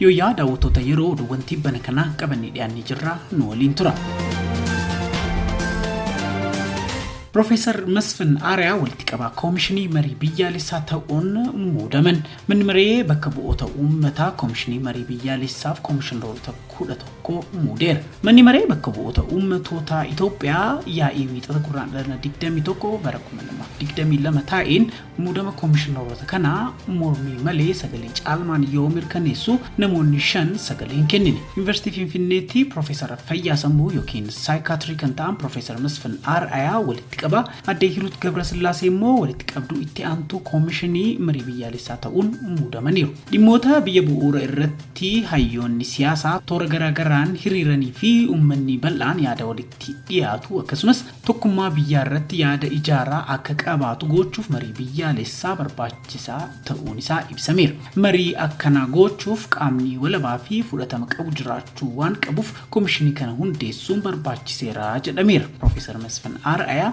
Yooyyaa daawwattoota yeroo oduuwwan tibbana kanaa qabannee dhiyaannee jirra nu waliin tura. Profeesar Masfin Aariyaa walitti qabaa koomishinii marii biyyaalessaa ta'uun muudaman. Manni maree bakka bu'oota uummataa koomishinii marii biyyaalessaaf koomishineroota 11 muudeera. Manni maree bakka bu'oota uummatootaa Itoophiyaa yaa'ii wiixata gurraandhala 21 bara 2022 taa'een muudama koomishinaroota kanaa mormii malee sagalee caalmaan yoo mirkaneessu namoonni shan sagalee hin kennine. Yuunivarsiitii Finfinneetti Piroofeesara Fayyaa Sammuu yookiin Saayikaatirii kan ta'an Piroofeesar Masfin Ar'ayaa walitti qaba. Addee Hiruut Gabrasillaasee immoo walitti qabduu itti aantuu koomishinii marii biyyaalessaa ta'uun muudamaniiru. Dhimmoota biyya bu'uura irratti hayyoonni siyaasaa toora garaa garaan hiriiranii fi uummanni bal'aan yaada walitti dhiyaatu akkasumas tokkummaa biyyaa irratti yaada ijaaraa akka qabaatu goochuuf marii biyyaalessaa barbaachisaa ta'uun isaa ibsameera. Marii akkanaa goochuuf qaamni walabaa fi fudhatama qabu jiraachuu waan qabuuf komishinii kana hundeessuun barbaachiseera jedhameera. Pirofeesar Masfin Ar'ayaa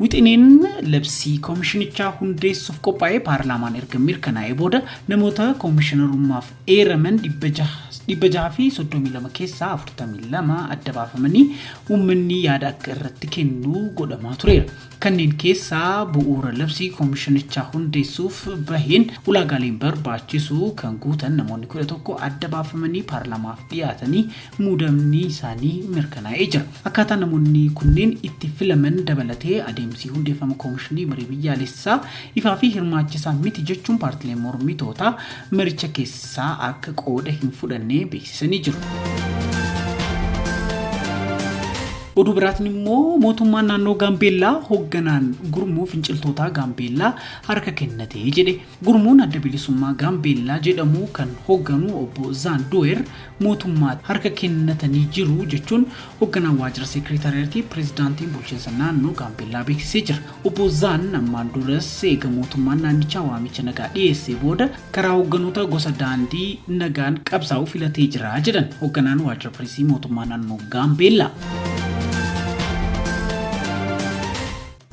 Wixineen labsii komishinichaa hundeessuuf qophaa'e paarlaamaan erga mirkanaa'ee booda namoota komishinarummaaf eeraman 632 keessaa 42 adda baafamanii uummanni yaada akka irratti kennu godhamaa tureera. Kanneen keessaa bu'uura labsii komishinichaa hundeessuuf baheen ulaagaaleen barbaachisu kan guutan namoonni 11 adda baafamanii paarlaamaaf dhiyaatanii muudamni isaanii mirkanaa'ee jira. Akkaataa namoonni kunneen itti filaman dabalatee adeemsi hundeeffama Koomishinii Marii Biyyaalessaa ifaa fi hirmaachisaa miti jechuun paartileen mormitootaa maricha keessaa akka qooda hin fudhanne beeksisanii jiru. Oduu biraatiin immoo mootummaan naannoo Gaambeellaa hoogganaan gurmuu finciltootaa Gaambeellaa harka kennatee jedhe. Gurmuun Adda Bilisummaa Gaambeellaa jedhamu kan hogganu Obbo Zaan Duweer mootummaatti harka kennatanii jiru jechuun hogganaan waajjira seekreetaariyatii pireezidaantiin bulchiinsa naannoo Gaambeellaa beeksisee jira. Obbo Zaan ammaan duras eega mootummaan naannichaa waamicha nagaa dhiyeessee booda karaa hogganoota gosa daandii nagaan qabsaa'u filatee jira jedhan hogganaan waajjira pireesii mootummaa naannoo Gaambeellaa.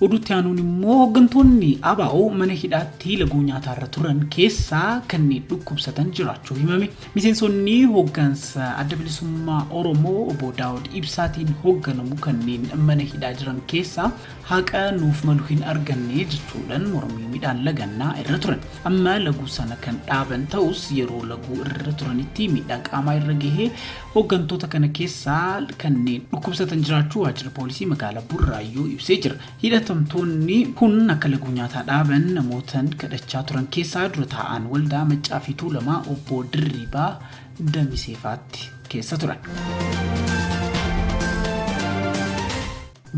Oduu itti aanuun immoo hooggantoonni ABO mana hidhaatti laguu nyaataa irra turan keessaa kanneen dhukkubsatan jiraachuu himame. Miseensonni hooggansa adda bilisummaa Oromoo obbo Daawud Ibsaatiin hoogganamu kanneen mana hidhaa jiran keessaa haqa nuuf malu hin arganne jechuudhaan mormii midhaan lagannaa irra turan. Amma laguu sana kan dhaaban ta'us yeroo laguu irra turanitti miidhaa qaamaa irra gahee Hoggantoota kana keessaa kanneen dhukkubsatan jiraachuu waajjirri poolisii magaalaa Burraayyuu ibsee jira. Hidhatamtoonni kun akka laguu nyaataa dhaaban namootan kadhachaa turan keessaa dura taa'aan waldaa Maccaa fi Tuulamaa obbo Dirribaa Damiseefaatti keessa turan.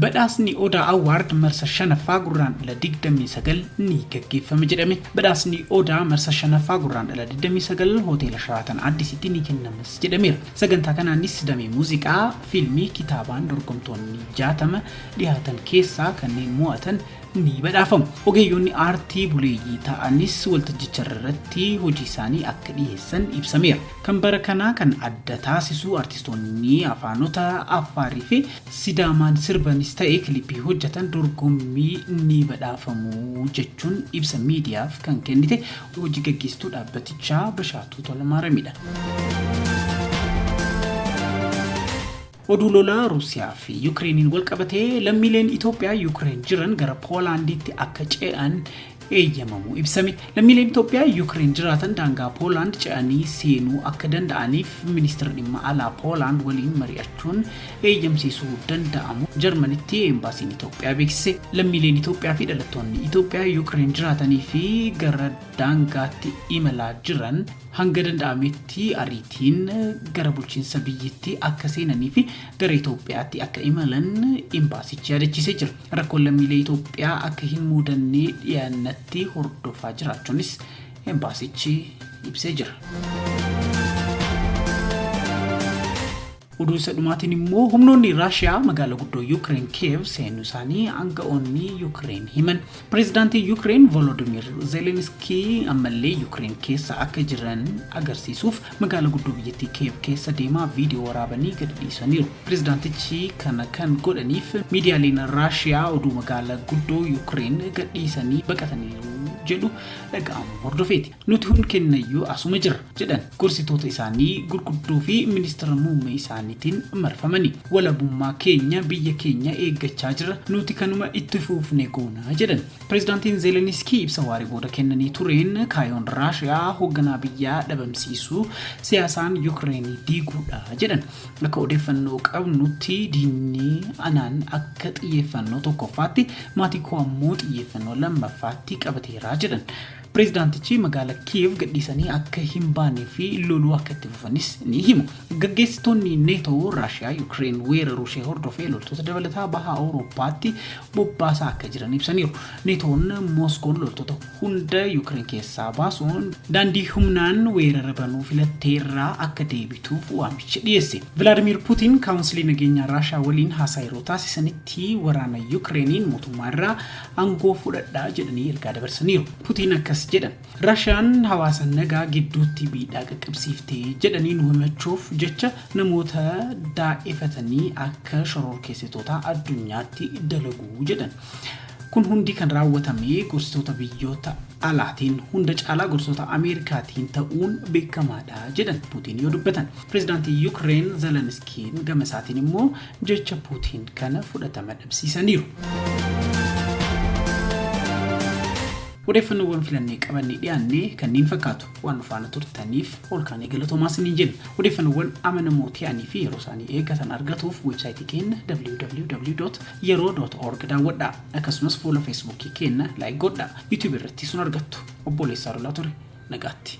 Badhaasni Odaa Award marsa 5ffaa Gurraandhala 29 ni gaggeeffama jedhame Badhaasni Odaa marsa 5ffaa Gurraandhala 29 Hoteela Sharaatan Addisitti ni kennamas jedhameera. Sagantaa kanaanis damee muuziqaa, fiilmii, kitaabaan dorgomtoonni 60 dhihaatan keessaa kanneen mo'atan ni badhaafamu. Ogeeyyoonni aartii buleeyyii ta'anis waltajjicharratti hojiisaanii akka dhiheessan ibsameera. Kan bara kanaa kan adda taasisu artistoonni afaanota Affaariifi. Sidaamaan sirbanis ta'e kilipii hojjetan dorgommii ni badhaafamu jechuun ibsa miidiyaaf kan kennite hojii gaggeessituu dhaabbatichaa Bashaatuu Tolamaaramiidha. Oduu lola Ruusiyaa fi Yukireeniin walqabatee lammiileen Itoophiyaa Yukireen jiran gara Poolaandiitti akka ce'an eeyyamamu ibsame. Lammiileen Itoophiyaa Yuukireen jiraatan daangaa Poolaand ce'anii seenuu akka danda'aniif ministeera dhimma alaa Poolaand waliin mari'achuun eeyyamsiisuu danda'amu Jarmanitti Eembaasiin Itoophiyaa beeksise. Lammiileen Itoophiyaa fi dhalattoonni Itoophiyaa Yuukireen jiraatanii fi gara daangaatti imalaa jiran hanga danda'ametti ariitiin gara bulchiinsa biyyittii akka seenanii fi gara Itoophiyaatti akka imalan Eembaasichi yaadachiisee jira. Rakkoon lammiilee Itoophiyaa akka hin muudanne dhiyaannatti hordofaa jiraachuunis Embaasichi ibsee jira. Oduu isa dhumaatiin immoo humnoonni Raashiyaa magaalaa guddoo Yuukireen Kiyeev seenuu isaanii aanga'oonni Yuukireen himan. Pireezidaantiin Yuukireen Volodimiir Zeelenskii ammallee Yuukireen keessa akka jiran agarsiisuuf Magaala guddoo biyyattii Keev keessa deemaa viidiyoo waraabanii gadi dhiisaniiru. Pirezidaantichi kana kan godhaniif miidiyaaleen Raashiyaa oduu magaala guddoo Yukireen gad dhiisanii baqataniiru jedhu dhaga'amuu hordofeeti. Nuti hundi kennayyuu asuma jirra, jedhan gorsitoota isaanii gurguddoo fi ministira muummee isaaniitiin marfamanii. Walabummaa keenya, biyya keenya eeggachaa jirra, nuti kanuma itti fuufne goona, jedhan. Pireezidaantiin Zeeleniskii ibsa waaree booda kennanii tureen kaayoon Raashiyaa hoogganaa biyyaa dhabamsiisuu, siyaasaan Yukireen diiguudha jedhan. Akka odeeffannoo qabnutti diinni anaan akka xiyyeeffannoo tokkoffaatti, maatii koo ammoo xiyyeeffannoo lammaffaatti qabateera jedhan. Pireezidaantichi magaala Kiiv gadhiisanii akka hin baanee fi loluu akka itti fufanis ni himu. Gaggeessitoonni NATO Raashiyaa Yukireen weeraruu ishee hordofee loltoota dabalataa baha Awurooppaatti bobbaasaa akka jiran ibsaniiru. NATO'n Mooskoon loltoota hunda Yukireen keessaa baasuun daandii humnaan weerara banuu filatte irraa akka deebituuf waamicha dhiyeesse. Vilaadimiir Puutiin Kaawunsilii Nageenyaa Raashiyaa waliin haasaa yeroo taasisanitti waraana Yukireeniin mootummaa irraa aangoo fudhadhaa jedhanii ergaa dabarsaniiru. Putiin akkas jedhan, Rashiyaan hawaasa nagaa gidduutti miidhaa qaqqabsiifte jedhanii nu himachuuf jecha namoota daa'efatanii akka shororkeessitootaa addunyaatti dalagu jedhan. Kun hundi kan raawwatame gorsitoota biyyoota alaatiin hunda caalaa gorsitoota Ameerikaatiin ta'uun beekamaadha jedhan Putiin yoo dubbatan. Pireezidaantii Yukireen Zeleniskiin gama isaatiin immoo jecha Puutiin kana fudhatama dhabsiisaniiru. Odeeffannoowwan filannee qabannee dhiyaanne kanneen fakkaatu waan nu faana turtaniif olkaanii galatoomaa isiniin jenna. Odeeffannoowwan amanamoo ta'anii fi yeroo isaanii eeggatan argatuuf weebsaayitii keenya www.yeroo.org daawwadhaa. Akkasumas fuula feesbuukii keenya laayik godhaa. Yuutuubii irratti sun argattu. Obboleessaa Lolaa ture. Nagaatti.